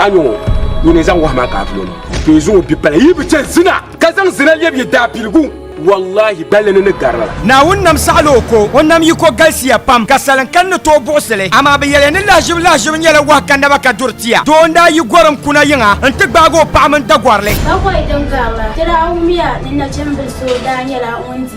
a nyɔ ŋɔ ŋun zaŋ wahi maa kaafiri o to yi zuŋɔ bi pala yi bi chɛ zina ka zaŋ zina lɛbi yi daabiligu wallahi gballi ni ni garila Naawuni nam saɣila o ko o nam yi ko galisiya pam ka salin kani ni tooi buɣisi li amaa bi yɛliya ni lahiʒibu lahiʒibu nyɛla wahi ka naba ka duri tiya doo n daa yi gorim kuna yiŋa n ti gbaagi o paɣa mini dagɔrili Dagɔi din garila, dira awumiya ni nachimbili so daa nyɛla ŋun di.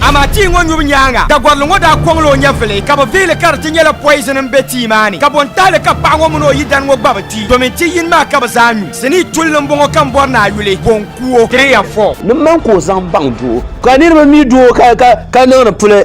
Amaa tii ŋɔ nyubu nyaaŋa, Dagɔrili ŋɔ daa kɔŋla o nyɛvili, ka bɛ vihili ka di ti nyɛla poizini m-be tii maa ni. Kabontahili ka paɣa ŋɔ mini o yidana ŋɔ gba bi ti, domin ti yini maa ka bɛ zaa nyu. Sinii tulli m-bɔŋɔ ka m bɔri ni a yuli, bo n-ku o. Three and four. Ni man ka o zaŋ baŋ doo. Ka niriba mi du o ka niŋdi puli.